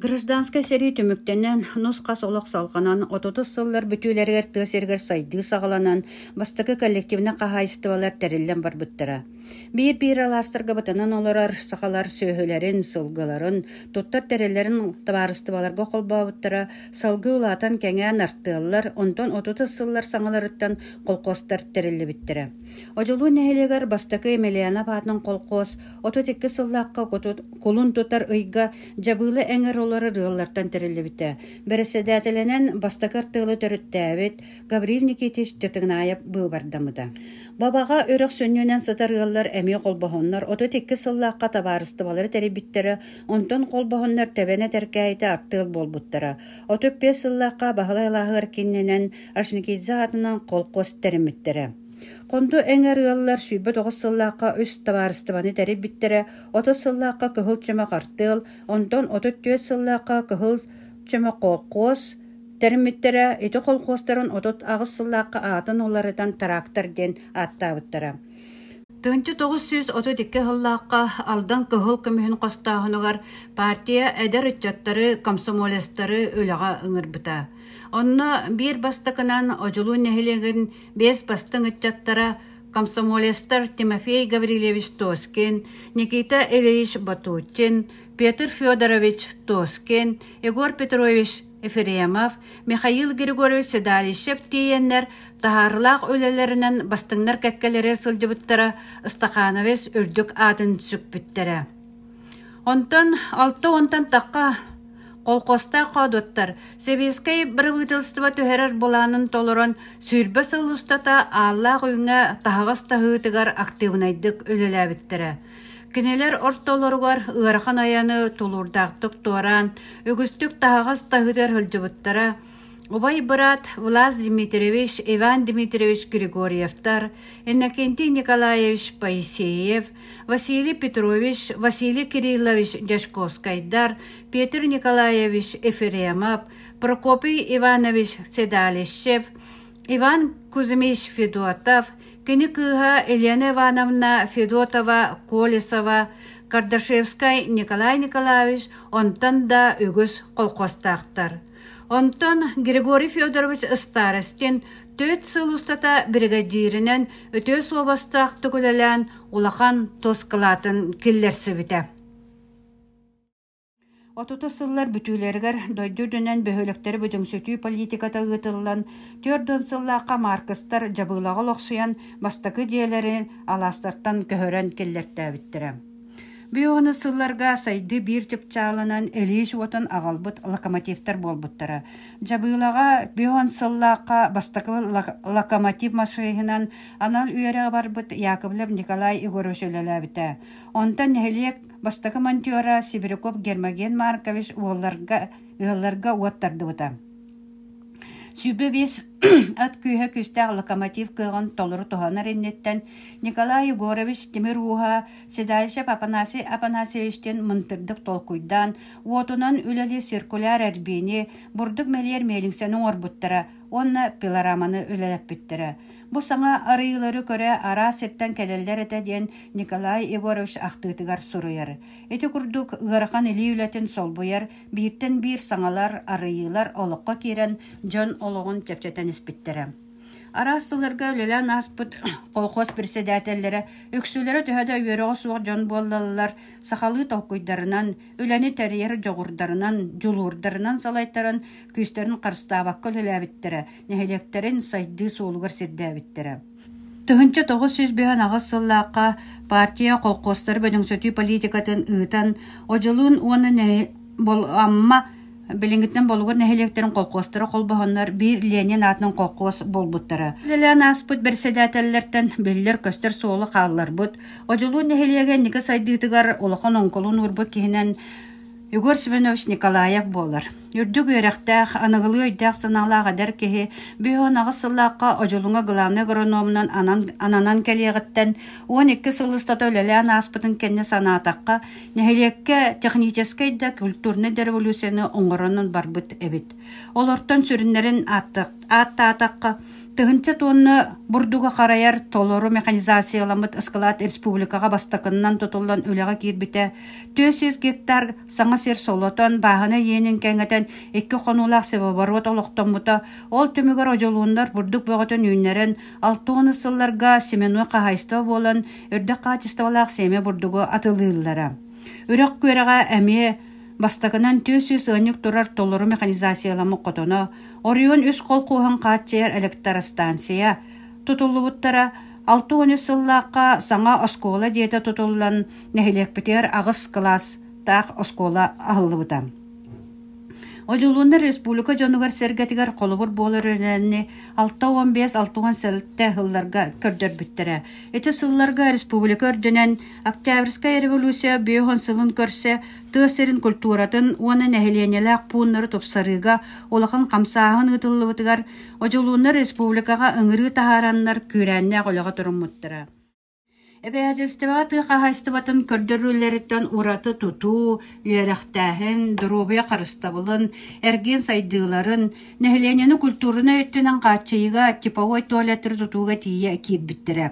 Гражданскай сэрии түмүктэнэн, нус-хас олох салҕанан, отутус сыллар бүтүүлэригэр тыа сиригэр сайдыы саҕаланан, бастакы коллективнай хаһаайыстыбалар тэриллэн барбыттара. Биир-биир алаастарга бытанан олорор сахалар сүөһүлэрин, сылгыларын, туттар тэриллэрин табаарыстыбаларга холбообуттара, салгыы улаатан кэҥээн артыаллар, онтон отутус сыллар саҥаларыттан колхозтар тэриллибиттэрэ. Одьулуун нэһилиэгэр бастакы Емельянов аатын колхоз Отут икки сыллаахха кулун тутар ыйга дьабыыла эҥэр олорор ыаллартан тэриллибитэ. Бэрэссэдээтэлинэн бастакы артыылы төрүттээбит Гаврил Никитич Дьатыгнаев быыбардамыта. Бабаҕа үрэх сүнньүнэн сытар ыаллар эмиэ холбоһоннор отут икки сыллаахха табаарыстыбалары тэрийбиттэрэ, онтон холбоһоннор тэбэнэ тэркээйитэ артыал буолбуттара. Отут биэс сыллаахха Баһылай алааһыгар киннинэн Ашникидзе аатынан колхоз тэриммиттэрэ. Хонду эҥэр ыаллар сүүрбэ тоҕус сыллаахха үс табаарыстыбаны тэрийбиттэрэ, отuz сыллаахха кыһыл чөмө хартыал, онтон отут түөрт сыллаахха кыһыл чөмө колхоз тэриммиттэрэ, ити колхозтарын отут аҕыс сыллаахха аатын уларытан трактор диэн ааттаабыттара. Тыһыынча тоҕус сүүс отут икки сыллаахха Алдан кыһыл көмүһүн хостооһунугар партия эдэр ыччаттары, комсомолецтары үлэҕэ ыҥырбыта. Онно биир бастакынан Одьулуун нэһилиэгин биэс бастыҥ ыччаттара комсомолецтар Тимофей Гаврильевич Тоскин, Никита Ильич Батучин, Петр Федорович Тоскин, Егор Петрович Ефремов, Михаил Григорьевич Седалищев тиийэннэр таһаарылаах үлэлэринэн бастыҥнар кэккэлэрэ сылдьыбыттара Ыстахановец үрдүк аатын сүкпүттэрэ Онтон алта уонтан тахха холкуостаах хоодуттар сэбиэскэй бырабыыталыстыба түһэрэр былаанын толорон сүүрбэ сыл устата Ааллаах Үүҥҥэ таһаҕас таһыытыгар актыыбынайдык үлэлээбиттэрэ. Кинилэр ортолоругар ыарахан айаны тулуурдаахтык туораан, үгүстүк таһаҕас таһыытыгар сылдьыбыттара, убай быраат Влас Дмитриевич, Иван Дмитриевич Григорьевтар, Иннокентий Николаевич Поисеев, Василий Петрович, Василий Кириллович Дьячковскайдар, Петр Николаевич Ефремов, Прокопий Иванович Седалищев, Иван Кузьмич Федотов, кини кыыһа Елена Ивановна Федотова Колесова, Кардашевскай Николай Николаевич онтон да үгүс колхозтаахтар Онтон Григорий Федорович Ыстаарыскин түөрт сыл устата биригэдьииринэн үтүө суобастаахтык үлэлээн улахан тус кылаатын киллэрсибитэ. Отутус сыллар бүтүүлэригэр дойду үрдүнэн бөһүөлэктэри бүдүҥсүтүү политиката ыытыллан, түөрт уон сыллаахха Маркыстар дьабыылаҕа олохсуйан бастакы дьиэлэрин алаастартан көһөрөн киллэртээбиттэрэ. Биһиэхэ сылларга сайдыы биир чыпчаалынан илиис уотун аҕалбыт локомотивтар буолбуттара. Дьабыылаҕа биһиэхэ сыллаахха бастакыбын локомотив машиһынан анал үөрэҕи барбыт Яковлев Николай Егорович үлэлээбитэ. Онтон нэһилиэк бастакы монтера Сибиряков Гермоген Маркович уолларга ыалларга уот тардыбыта Сүүрбэ биэс от күүһэ күүстээх локомотив кыаҕын толору туһанар инниттэн Николай Егорович тимир ууһа седалищев Апанасий Апанасьевичтыын мындырдык толкуйдаан, уотунан үлэлии циркуляр эрбиини, бурдук мэлиэр миэлиҥсэни оҥорбуттара уонна пилораманы үлэлэппиттэрэ. Бу саҥа арыйыылары көрө араас сиртэн кэлэллэр этэ диэн Николай Егорович ахтыытыгар суруйар. Ити курдук ыарахан илии үлэтин солбуйар Бииртэн биир саҥалар, арыйыылар олоххо киирэн, дьон олоҕун чэпчэтэн испиттэрэ. Араас сылларга үлэлээн ааспыт колхоз председателлэрэ үксүлэрэ төһө да үөрөҕө суох дьон буоллаллар, сахалыы толкуйдарынан, үлэни тэрийэр дьоҕурдарынан, дьулуурдарынан салайтаран, күүстэрин харыстаабакка үлэлээбиттэрэ, нэһилиэктэрин сайдыы суолугар сирдээбиттэрэ. Тыһыынча тоҕус сүүс быһан аҕыс сыллаахха партия колхозтары бөдөҥсөтүү политикатын ыытан, Одьулуун уонна нэһи... Бол... Амма билиҥҥиттэн Болугур нэһилиэктэрин колхозтара холбоһоннор биир Ленин аатынан колхоз буолбуттара. Үлэлээн ааспыт бэрэссэдээтэллэртэн биллэр-көстөр суолу хаалларбыт, Одьулуун нэһилиэгэ инники сайдыытыгар улахан оҥколун уурбут киһинэн Егор Семенович Николаев буолар. Үрдүк үөрэхтээх, аныгылыы өйдөөх-санаалаах эдэр киһи биһиэхэ аҕыс сыллаахха Одьулуҥа главный агрономунан анан, ананан кэлиэҕиттэн уон икки сыл устата үлэлээн ааспытын кэннэ санаатахха, нэһилиэккэ техническэй да культурнай да революцияны оҥорон барбыт эбит. Олортон сүрүннэрин ааттаатахха, тыһыынча туонна бурдугу харайар толору механизацияламмыт ыскылаат республикаҕа бастакыннан тутуллан үлэҕэ киирбитэ, түөрт сүүс гектар саҥа сир солотон, бааһына иэнин кэҥэтэн, икки хонуулаах севооборот олохтоммута, ол түмүгэр одьулууннар бурдук бөҕөтүн үүннэрэн, алта уон сылларга семенной хаһаайыстыба буолан, өрдөх хаачыстыбалаах сиэмэ бурдугу атылыыллара. Үрэх күөрэҕэ эмиэ Бастакынан түөс-сүүс ыанньык турар толору механизацияламмыт хотоно, оройуон үс холкуоһун хааччыйар электростанция тутуллубуттара алта уон үс сыллаахха саҥа оскуола дьиэтэ тутуллан, нэһилиэкпитигэр аҕыс кылаастаах оскуола аһыллыбыта. Одьулууннар республика дьонугар-сэргэтигэр холобур буолар өрөөнү алта уон бес алта уон сэлтэ сылларга көрдөрбүттэрэ. Ити сылларга республика үрдүнэн Октябрьская революция бүөһүн сылын көрсө тыа сирин культуратын уонна нэһилиэнньэлээх пууннары тупсарыыга улахан хамсааһын ыытыллыбытыгар Одьулууннар республикаҕа ыҥырыы таһаараннар күүрээннээх үлэҕэ туруммуттара. Эбэһээтэлистибэҕэ тыа хаһаайыстыбатын көрдөрүүлэриттэн ураты тутуу, үөрэхтээһин, доруобуйа харыстабылын, эргиэн сайдыыларын, нэһилиэнньэни культурнай өттүнэн хааччыйыыга типовой туалеттары тутууга тиийэ киирбиттэрэ.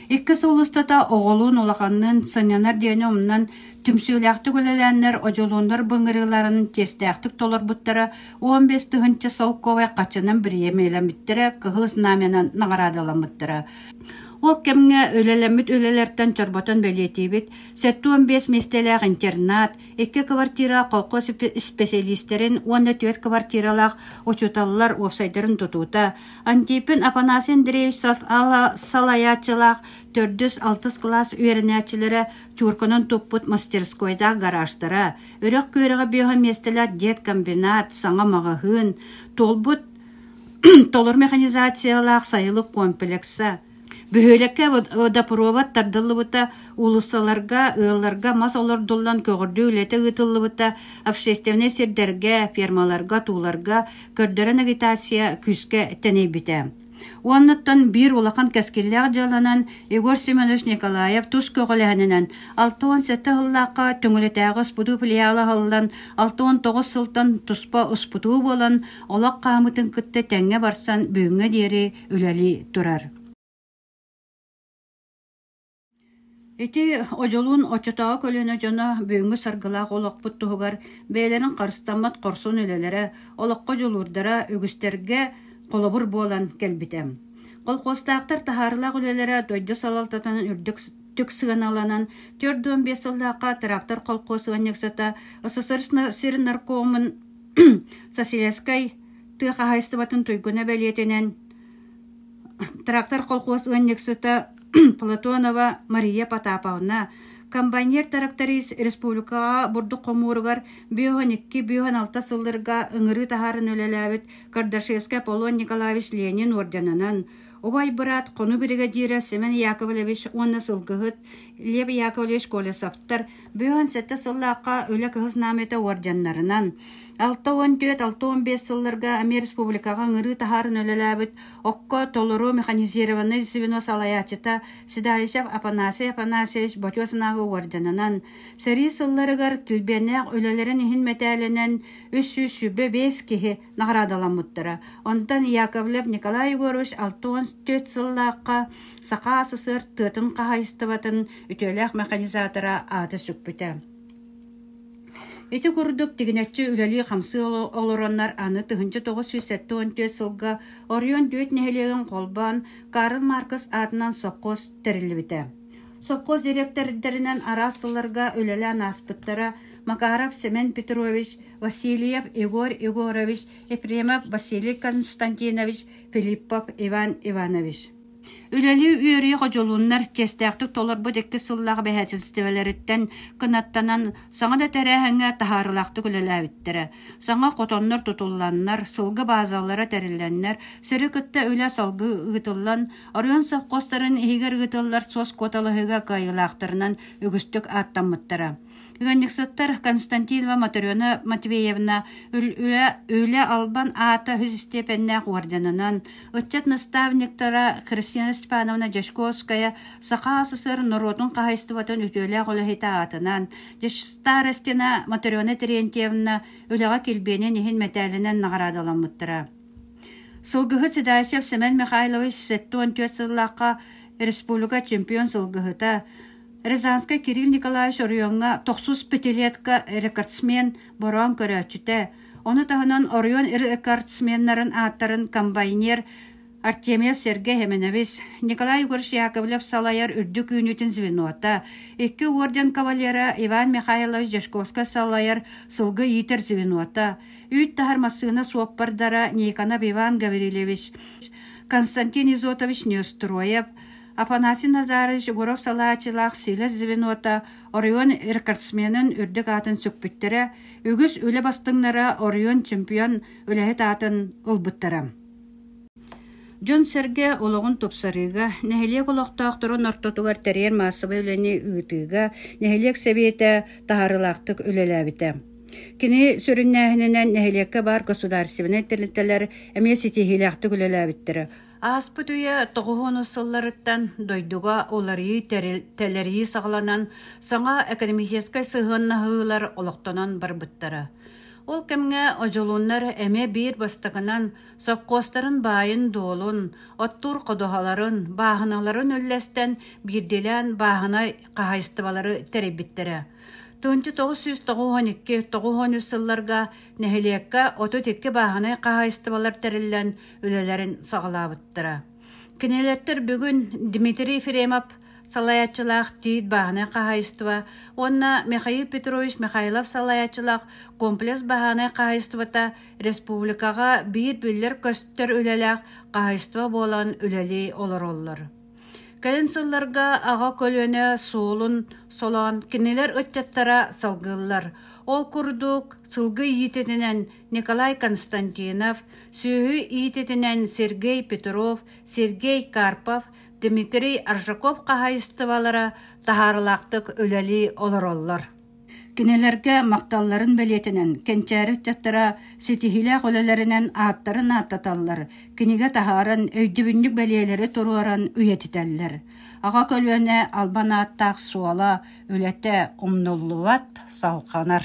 Икки сыл устата оҕолуун, улаханныын сынньанар диэни умнан, түмсүүлээхтик үлэлээннэр, одьулууннар былыргыларын чиэстээхтик толорбуттара, уон биэс тыһыынча солкуобай хаччынан бириэмэлэммиттэрэ, Кыһыл Знамянан наҕараадаламмыттара. Ол кэмҥэ үлэлэммит үлэлэртэн чорботон бэлиэтиибит, сэттэ уон биэс миэстэлээх интернат, икки квартира колхоз исписэлиистэрин уонна түөрт квартиралаах учууталлар уопсайдарын тутуута, Антипин Апанасий Андреевич салайааччылаах төрдүс-алтыс кылаас үөрэнээччилэрэ чуурканан туппут мастерскойдаах гаражтара, үрэх күөрэҕэ биоһа миэстэлээх деткомбинат, саҥа маҕаһыын, туолбут толор механизациялаах сайылык комплекса, Бөһүөлэккэ водопровод тардыллыбыта, уулуссаларга, ыалларга мас олордуллан көҕөрдүү үлэтэ ыытыллыбыта, общественнай сирдэргэ, фермаларга, тууларга көрдөрөн агитация күүскэ тэнийбитэ. Уоннаттан биир улахан кэскиллээх дьыаланан Егор Семенович Николаев тус көҕүлэһининэн алта уон сэттэ сыллаахха Төҥүлэтээҕи успутуу филиала аһыллан, алта уон тоҕус сылтан туспа успутуу буолан, олох хаамыытын кытта тэҥҥэ барсан бүгүҥҥэ диэри үлэлии турар Ити Одьолуун оччотооҕу көлүөнэ дьоно бүгүҥҥү саргылаах олохпут туһугар бэйэлэрин харыстаммат хорсун үлэлэрэ, олоххо дьулуурдара үгүстэргэ холобур буолан кэлбитэ. Колхозтаахтар таһаарылаах үлэлэрэ дойду салалтатынан үрдүк түк сыаналанан төрт уон биэс сыллаахха трактор колхоз ыанньыксата СССР сир наркомун Соседскай тыа хаһаайыстыбатын туйгуна бэлиэтинэн трактор колхоз ыанньыксыта Платонова Мария Потаповна, комбайнер тракторист республикаҕа бурдук хомууругар бүөһүн икки, бүөһүн алта сылларга ыҥырыы таһааран үлэлээбит Кардашевскай Аполлон Николаевич Ленин орденынан, убай быраат хонуу биригэдьиирэ Семен Яковлевич уонна сылгыһыт Лев Яковлевич Колесовтар Бүгүн сэттэ сыллаахха Үлэ кыһыс наамыйата уордьаннарынан, алта уон түөрт, алта уон биэс сылларга Амир Республикаҕа ыҥырыы таһааран үлэлээбит Окко толору механизированнай звено салайааччыта Седаичев Апанасий Апанасьевич ботуо санааҕа уордьанынан, сэрии сылларыгар килбиэннээх үлэлэрин иһин мэтээлинэн үс сүүс сүүрбэ биэс киһи наҕараадаламмыттара. Онтон Яковлев Николай Егорович алта уон түөрт сыллаахха Саха СССР тыатын хаһаайыстыбатын үтүөлээх механизатора аата сүкпүтэ. Ити курдук тигинэччи үлэлии-хамсыы олороннор аны тыһынча тоҕус сүүс сэттэ он түөрт сылга Орион дүөт нэһилиэгин холбоон Карл Маркс аатынан сопхуос тэриллибитэ. Сопхуос директордэринэн араас сылларга үлэлээн ааспыттара Макаров Семен Петрович, Васильев Егор Егорович, Ефремов Василий Константинович, Филиппов Иван Иванович. Үлэлии үөрүйэ ходьулуннар честээхтик толорбут икки сыллаах бэһээтилистибэлэриттэн кынаттанан саҥа да тэрээһиҥҥэ таһаарылаахтык үлэлээбиттэрэ. Саҥа хотоннор тутулланнар, сылгы баазалара тэриллэннэр, сири кытта үлэ салгыы ыытыллан, оройуон совхозтарын иһигэр ыытыллар суос куоталаһыыга кыайыылаахтарынан үгүстүк ааттаммыттара. Ыанньыксыттар Константинова Моторена Матвеевна Үлэ Албан аата үһүс истиэпэннээх орденынан, ыччат наставниктара Кристина Степановна Дьячковская Саха СССР норуотун хаһаайыстыбатын үтүөлээх үлэһитэ аатынан, старостина Моторена Терентьевна үлэҕэ килбиэнин иһин мэтээлинэн наҕараадаламмыттара. Сылгыһыт Седачев Семен Михайлович 74 сыллаахха республика чемпион сылгыһыта, Рязанскай Кирилл Николаевич оройуоҥҥа тохсус пятилетка рекордсмен бороон көрөөччүтэ, ону таһынан оройуон рекордсменнарын ааттарын комбайнер Артемьев Сергей Еменович, Николай Егорович Яковлев салайар үрдүк үүнүүтүн звенота, икки орден кавалера Иван Михайлович Дьячковскай салайар сылгы иитэр звенота, үүт таһар массыына суоппардара Никонов Иван Гаврильевич, Константин Изотович Нестроев, Афанасий Назарович Егоров салааччылаах Силэс звенота оройуон рекордсменын үрдүк аатын сүкпүттэрэ, үгүс үлэ бастыҥнара оройуон чемпион үлэһит аатын ылбыттара. Дьон-сэргэ олоҕун тупсарыыга, нэһилиэк олохтоохторун ортотугар тэрийэр маассабай үлэни ыытыыга нэһилиэк сэбиэтэ таһаарыылаахтык үлэлээбитэ. Кини сүрүннээһининэн нэһилиэккэ баар государственнай тэрилтэлэр эмиэ ситиһиилээхтик үлэлээбиттэрэ, Ааспыт үйэ тоҕуһунус сылларыттан дойдуга уларыы тэлэрии саҕаланан, саҥа экономическай сыһыаннаһыылар олохтонон барбыттара. Ол кэмҥэ одьулуннар эмиэ биир бастакынан сопхуостарын баайын-дуолун, оттуур ходуһаларын, бааһыналарын үллэстэн биирдиилээн бааһынай хаһайыстыбалары тэрийбиттэрэ. Тунчу 992-913 сылларга нэһилиэккэ 32 бааһынай хаһайыстыбалар тэриллэн, үлэлэрин саҕалаабыттара. Кинилэртэр бүгүн Дмитрий Фремов салайааччылаах Тиит бааһынай хаһайыстыба уонна Михаил Петрович Михайлов салайааччылаах комплекс бааһынай хаһайыстыбата республикаҕа биир бүллэр көстөр үлэлээх хаһайыстыба буолан үлэлии олороллор. Кэлин сылларга аҕа көлүөнэ суолун солоон кинилэр ыччаттара салгыллар. Ол курдук сылгы иититинэн Николай Константинов, сүөһү иититинэн Сергей Петров, Сергей Карпов, Дмитрий Аржаков хаһайыстыбалара таһаарылаахтык үлэлии олороллор. Кинилэргэ махталларын бэлиэтинэн кэнчээри ыччаттара ситиһиилээх үлэлэринэн ааттарын ааттаталлар, кинигэ таһааран өйдөбүнньүк бэлиэлэри туруоран үйэтитэллэр. Аҕа көлүөнэ албан ааттаах суола, үлэтэ умнуллубат, салханар.